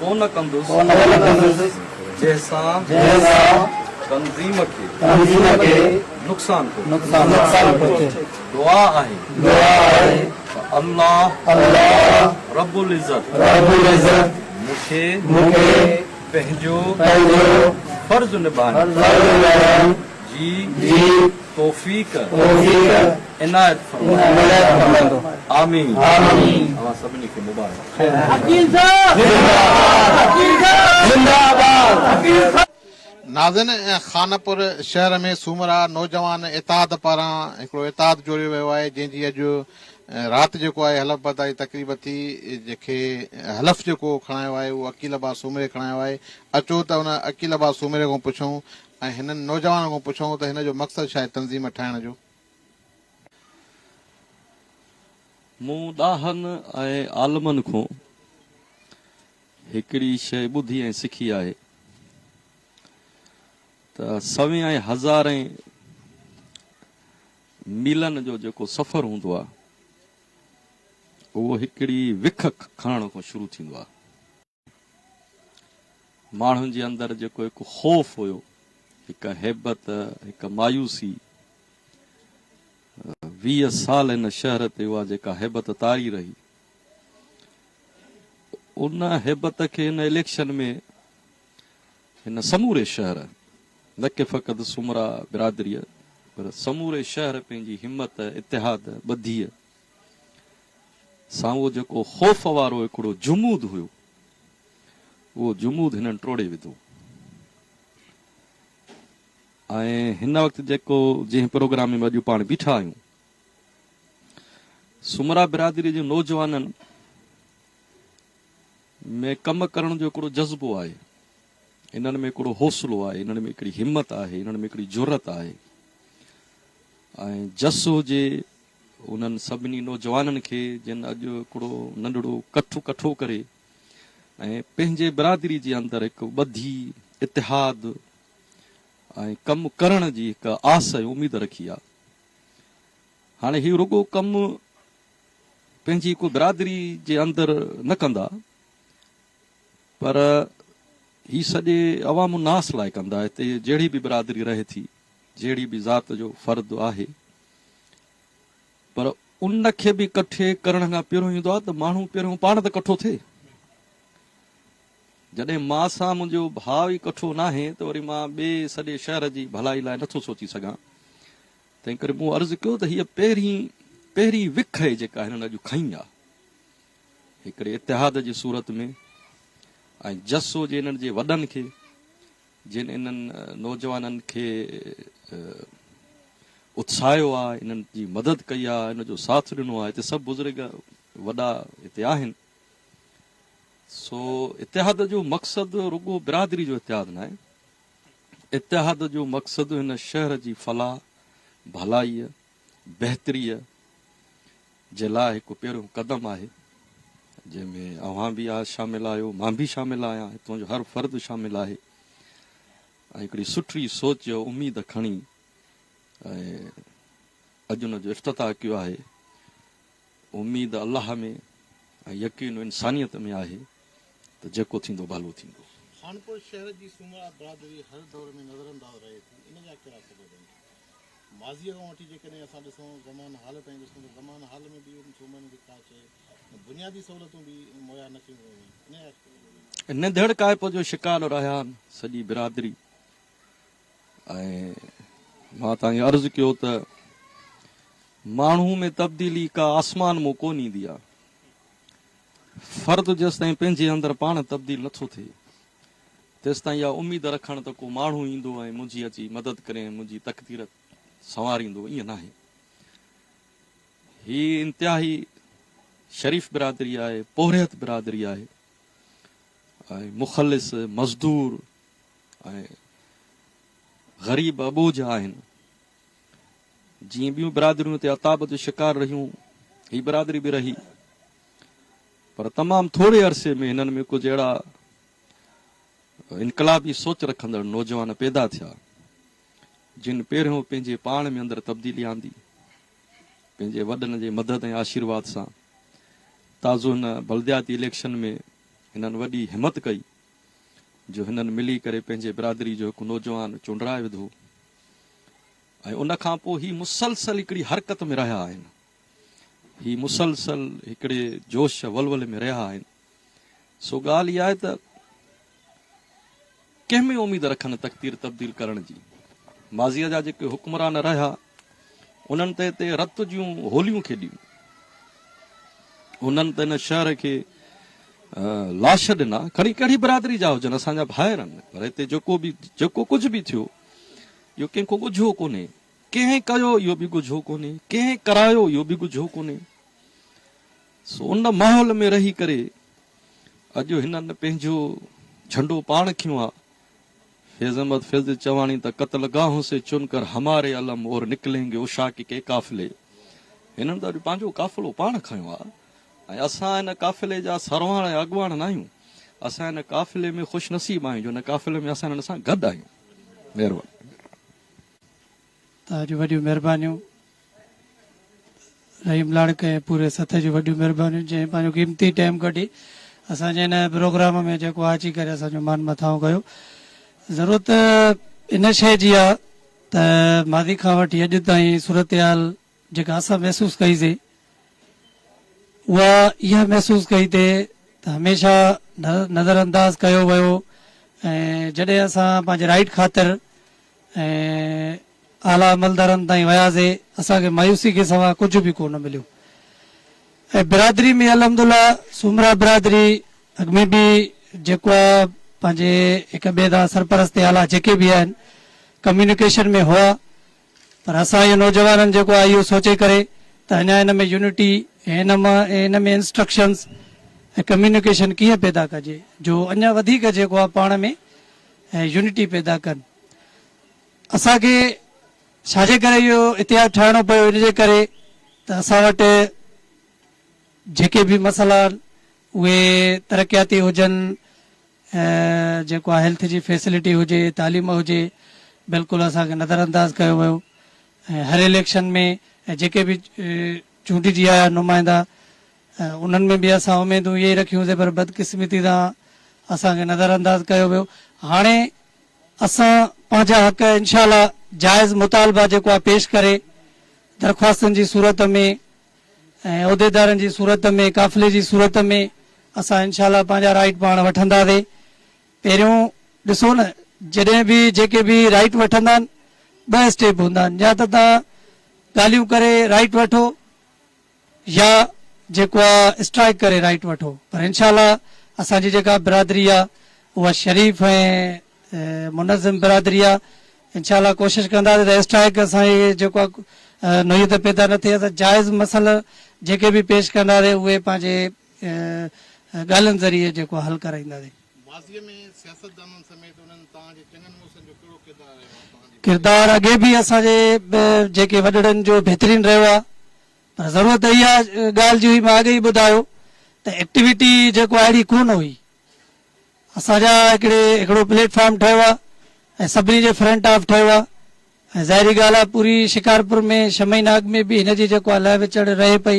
ڪو نه ڪندس جنهن سان تنظيم کي نقصان پهچي. دعا آهي ته الله رب العزت مون کي پنهنجو فرض نڀائڻ جي توفيق عنايت فرمائي آمين اوهان سڀني کي مبارڪ ناظرين خانپور شهر ۾ سومرا نوجوان اتحاد پاران هڪڙو اتحاد جوڙيو ويو آهي جنهن جي اڄ رات جيڪو آهي حلف برداري تقريب ٿي جنهن کي حلف جيڪو کڻايو آهي اهو عقيل ابا سومري کڻايو آهي اچو ته ان عقيل ابا سومري کان پڇون ۽ هنن نوجوانن کان پڇئون ته هن جو مقصد ڇا آهي تنظيم ٺاهڻ جو؟ مون ڏاهن ۽ عالمن کان هڪڙي شيء ٻڌي ۽ سکي آهي ته سوين ۽ هزارين ميلن جو جيڪو سفر هوندو آهي اهو هڪڙي وک کڻڻ کان شروع ٿيندو آهي. ماڻهن جي اندر جيڪو هڪ خوف هيو، هڪ هيبت، هڪ مايوسي، ويهه سال هن شهر تي اها جيڪا هيبت طاري رهي، ان هيبت کي هن اليڪشن ۾ هن سموري شهر، نه ڪي فقط سومرا برادريء، پر سموري شهر پنهنجي همت، اتحاد، ٻڌيء ۽ سان اهو جيڪو خوف وارو هڪڙو جمود هيو، اهو جمود هنن ٽوڙي وڌو ۽ هن وقت جيڪو جنهن پروگرام ۾ اڄ پاڻ بيٺا آهيون، سومرا برادري جي نوجوانن ۾ ڪم ڪرڻ جو هڪڙو جذبو آهي، انهن ۾ هڪڙو حوصلو آهي، انهن ۾ هڪڙي همت آهي، انهن ۾ هڪڙي جرئت آهي ۽ جس هجي، انهن سڀني نوجوانن کي جن اڄ هڪڙو ننڍڙو ڪٺ ڪٺو ڪري ۽ پنهنجي برادري جي اندر هڪ ٻڌي، اتحاد ۽ ڪم ڪرڻ جي هڪ آس ۽ اميد رکي آ. هاڻي هي رڳو ڪم پنهنجي هڪ برادري جي اندر نه ڪندا پر هي سڄي عوام الناس لاء ڪندا هتي جهڙي به برادري رهي ٿي، جهڙي به ذات جو فرد آهي. پر ان کي به ڪٺي ڪرڻ کان پهريون ايندو آهي ته ماڻهو پهريون پاڻ ته ڪٺو ٿئي. جڏهن مان سان منهنجو ڀاء ئي ڪٺو ناهي ته وري مان ٻئي سڄي شهر جي ڀلائي لاء نٿو سوچي سگهان. تنهنڪري مون عرض ڪيو ته هيء پهرين پهرين وک آهي جيڪا هنن اڄ کنئي آهي. هڪڙي اتحاد جي صورت ۾ ۽ جسو جي هنن جي وڏن کي جن انهن نوجوانن کي اتساهيو آهي، انهن جي مدد ڪئي آهي، انهن جو ساٿ ڏنو آهي، هتي سڀ بزرگ وڏا هتي آهن. سو اتحاد جو مقصد رڳو برادري جو اتحاد ناهي، اتحاد جو مقصد هن شهر جي فلاح، ڀلائيء، بهتريء، جي لاء هڪ پهريون قدم آهي جنهن ۾ اوهان به شامل آهيو مان به شامل آهيان هتون جو هر فرد شامل آهي ۽ هڪڙي سٺي سوچ اميد کڻي اڄ ان جو افتتاح ڪيو آهي اميد الله ۾ ۽ يقين انسانيت ۾ آهي ته جيڪو ٿيندو ڀلو ٿيندو. خانپور شهر جي سومرا برادري هر دور ۾ نظرانداز رهي ٿي ان جا ڪهڙا سبب آهن؟ ماضيء کان وٺي جيڪڏهن اسان ڏسون زمان حال تائين ڏسون ته زمان حال ۾ به انهن صوبن کي ڪا شيء ۽ بنيادي سهولتون به مهيا نه ڪيون ويون هيون انهيء ڪري ننڌڙ ڪائپو جو شڪار رهيان سڄي برادري ۽ مان تائين عرض ڪيو ته ماڻهو ۾ تبديلي ڪا آسمان مون ڪون ايندي آ فرد جيستائين پنهنجي اندر پاڻ تبديل نٿو ٿئي تيستائين اها اميد رکڻ ته ڪو ماڻهو ايندو ۽ منهنجي اچي مدد ڪري ۽ منهنجي تقدير سنواريندو ائين ناهي. هي انتهائي شريف برادري آهي، پورهيت برادري آهي ۽ مخلص، مزدور ۽ غريب اٻوجهه آهن. جيئن ٻيون برادريون هتي عتاب جو شڪار رهيون، هي برادري به رهي. پر تمام ٿوري عرصي ۾ هنن ۾ ڪجهه اهڙا انقلابي سوچ رکندڙ نوجوان پيدا ٿيا، جن پهريون پنهنجي پاڻ ۾ اندر تبديلي آندي، پنهنجي وڏن جي مدد ۽ آشيرواد سان، تازو هن بلدياتي اليڪشن ۾ هنن وڏي همت ڪئي، جو هنن ملي ڪري پنهنجي برادري جو هڪ نوجوان چونڊرائي وڌو ۽ ان کانپوء هي مسلسل هڪڙي حرڪت ۾ رهيا آهن. هي مسلسل هڪڙي جوش ولولي ۾ رهيا آهن، سو ڳالهه اها آهي ته ڪنهن ۾ اميد رکن تقدير تبديل ڪرڻ جي؟ ماضيء جا جيڪي حڪمران رهيا، انهن ته هتي رت جون هوليون کيڏيون، انهن ته هن شهر کي لاش ڏنا، کڻي ڪهڙي برادري جا هجن، اسان جا ڀائر آهن، پر هتي جيڪو به جيڪو ڪجهه به ٿيو، اهو ڪنهن کان ڳجهو ڪونهي. ڪنهن ڪيو اهو به ڳجهو ڪونهي، ڪنهن ڪرايو اهو به ڳجهو ڪونهي. سو ان ماحول ۾ رهي ڪري اڄ هنن پنهنجو جهنڊو پاڻ کنيو آ. فيض احمد فيض چواڻي ته قتل گاهون سي چن ڪر هماري علم اور نڪلين گي عشاق ڪي قافلي. هنن ته اڄ پنهنجو قافلو پاڻ کنيو آ ۽ اسان ان قافلي جا سرواڻ ۽ اڳواڻ ناهيون. اسان ان قافلي ۾ خوش نصيب آهيون جو ان قافلي ۾ اسان هنن سان گڏ آهيون. مهرباني. توهان جون وڏيون مهربانيون رحيم لاڙڪ ۽ پوري سٿ جون وڏيون مهربانيون جنهن پنهنجو قيمتي ٽائيم ڪڍي اسان جي هن پروگرام ۾ جيڪو اچي ڪري اسان جو مان مٿاهون ڪيو ضرورت ان شيء جي آهي ته ماضي کان وٺي اڄ تائين صورتحال جيڪا اسان محسوس ڪئيسين، اها اها محسوس ڪئي ته ته هميشه نظر انداز ڪيو ويو ۽ جڏهن اسان پنهنجي رائيٽ خاطر ۽ اعليٰ عملدارن تائين وياسي اسان کي مايوسي کي سوا ڪجهه به ڪو نه مليو ۽ برادري ۾ الحمدالله سومرا برادري اڳ ۾ به جيڪو آهي پنهنجي هڪ ٻئي سان سرپرست اعليٰ جيڪي به آهن ڪميونيڪيشن ۾ هئا پر اسان اهو نوجوانن جيڪو آهي اهو سوچي ڪري ته اڃا ان ۾ يونٽي ۽ ان م ۽ ان ۾ انسٽرڪشنز ۽ ڪميونيڪيشن ڪيئن پيدا ڪجي جو اڃا وڌيڪ جيڪو آهي پاڻ ۾ يونٽي پيدا ڪن اسان کي ڇا جي ڪري اهو اتحاد ٺاهڻو پيو ان جي ڪري ته اسان وٽ جيڪي به مسئلا آهن اهي ترقياتي هجن هي جيڪو آ هيلٿ جي فيسلٽي هجي تعليم هجي بلڪل اسان کي نظر انداز ڪيو ويو ۽ هر اليڪشن ۾ ۽ جيڪي به چونڊجي آيا نمائندا انهن ۾ به اسان اميدون اهي ئي رکيون سي پر بدقسمتي سان اسان کي نظر انداز ڪيو ويو هاڻي اسان پنهنجا حق انشاء الله جائز مطالبا جيڪو آ پيش ڪري درخواستن جي صورت ۾ ۽ عهديدارن جي صورت ۾ قافلي جي صورت ۾ اسان انشاء الله پنهنجا رائيٽ پاڻ وٺنداسي پهريون ڏسو نه جڏهن به جيڪي به رائيٽ وٺندا آهن ٻه اسٽيپ هوندا آهن يا ته تان ڳالهيون ڪري رائيٽ وٺو يا جيڪو آ اسٽرائيڪ ڪري رائيٽ وٺو پر انشاء الله اسان جي جيڪا برادري آ اها شريف ۽ منظم برادري آ انشاء الله ڪوشش ڪنداسين ته اسٽرائڪ اسان جي جيڪو آ نوعيت پيدا نه ٿئي اسان جائز مسئلا جيڪي به پيش ڪنداسين اهي پنهنجي ڳالهين ذريعي جيڪو آ حل ڪرائينداسين. ماضي ۾ سياستدانن سميت انهن توهان جي چڱن مڙسن جو ڪهڙو ڪردار رهيو آ توهان جي پڙهائي. ڪردار اڳي به اسان جي جيڪي وڏڙن جو بهترين رهيو آ پر ضرورت اها ڳالهه جي هئي مان اڳي ئي ٻڌايو ته ايڪٽيوٽي جيڪو آ اهڙي ڪونه هئي. اسان جا هڪڙي هڪڙو پليٽ فارم ٺهيو آ ۽ سڀني جي فرنٽ آف ٺهيو آ ۽ ظاهري ڳالهه آ پوري شڪارپور ۾ ڇهه مهينا اڳ ۾ به هن جي جيڪو آ لهه وچڙ رهي پئي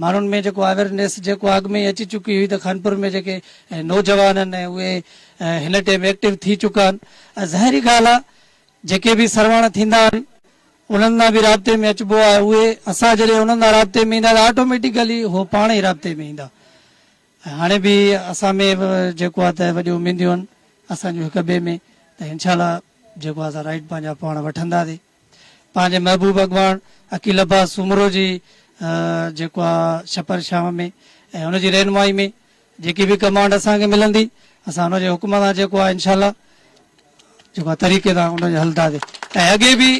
ماڻهن ۾ جيڪو اويرنيس جيڪو آ اڳ ۾ ئي اچي چڪي هئي ته خانپور ۾ جيڪي نوجوان آهن ۽ اهي هن ٽيم ايڪٽو ٿي چڪا آهن ۽ ظاهري ڳالهه آ جيڪي به سرواڻ ٿيندا آهن انهن سان به رابطي ۾ اچبو آ اهي اسان جڏهن انهن سان رابطي ۾ ايندا ته آٽوميٽيڪلي هو پاڻ ئي رابطي ۾ ايندا ۽ هاڻي به اسان ۾ جيڪو آهي ته وڏيون اميديون آهن اسان جون هڪ ٻئي ۾ ته انشاء الله جيڪو آهي سا رائيٽ پنهنجا پاڻ وٺنداسي پنهنجي محبوب اڳواڻ عقيل عباس سومرو جي جيڪو آهي شپر شام ۾ ۽ ان جي رهنمائي ۾ جيڪي به ڪمانڊ اسان کي ملندي اسان ان جي حڪم سان جيڪو آهي انشاء الله جيڪو طريقي سان ان کي هلنداسين ۽ اڳي به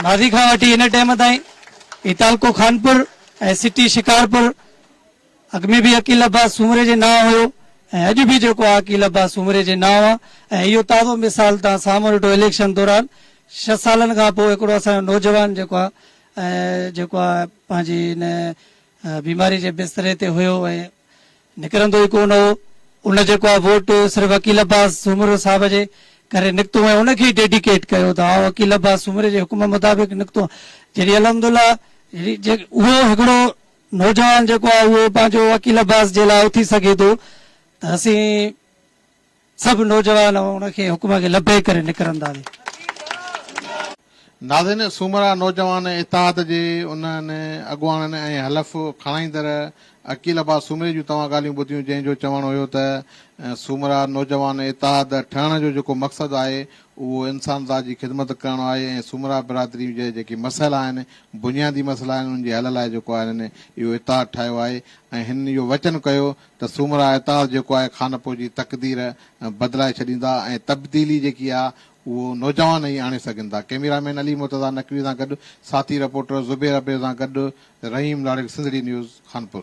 ماضي کان وٺي هن ٽيم تائين هي تعلقو خانپور ۽ سٽي شڪارپور اڳ ۾ به عقيل عباس سومري جي نانء هيو ۽ اڄ به جيڪو آهي عقيل عباس سومري جي نانء آهي ۽ اهو تازو مثال تان سامهون ڏٺو اليڪشن دوران ڇهه سالن کان پوء هڪڙو اسان جو نوجوان جيڪو آهي جيڪو آهي پنهنجي ان بيماري جي بستري تي هيو ۽ نڪرندو ئي ڪونه هو. ان جيڪو آ ووٽ صرف عقيل عباس سومرو صاحب جي ڪري نڪتو ۽ ان کي ئي ڊيڊيڪيٽ ڪيو ته آء عقيل عباس سومري جي حڪم مطابق نڪتو آهيان. جڏهن الحمدالله اهو هڪڙو نوجوان جيڪو آ اهو پنهنجو عقيل عباس جي لاء اٿي سگهي ٿو ته اسين سڀ نوجوان ان کي حڪم کي لبيڪ ڪري نڪرنداسين. ناظرين سومرا نوجوان اتحاد جي انهن اڳواڻن ۽ حلف کڻائيندڙ عقيل عباس سومري جون توهان ڳالهيون ٻڌيون جنهن جو چوڻ هيو ته سومرا نوجوان اتحاد ٺهڻ جو جيڪو مقصد آهي اهو انسان ذات جي خدمت ڪرڻ آهي ۽ سومرا برادري جي جيڪي مسئلا آهن بنيادي مسئلا آهن انهن جي حل لاء جيڪو آهي هنن اهو اتحاد ٺاهيو آهي ۽ هنن اهو وچن ڪيو ته سومرا اعتراض جيڪو آهي خانپور جي تقدير بدلائي ڇڏيندا ۽ تبديلي جيڪي آهي اهو نوجوان ئي آڻي سگهن ٿا. ڪئميرا مين علي مرتضيٰ نقوي سان گڏ ساٿي رپورٽر زبير ابڙي سان گڏ رحيم لاڙڪ سنڌڙي نيوز خانپور.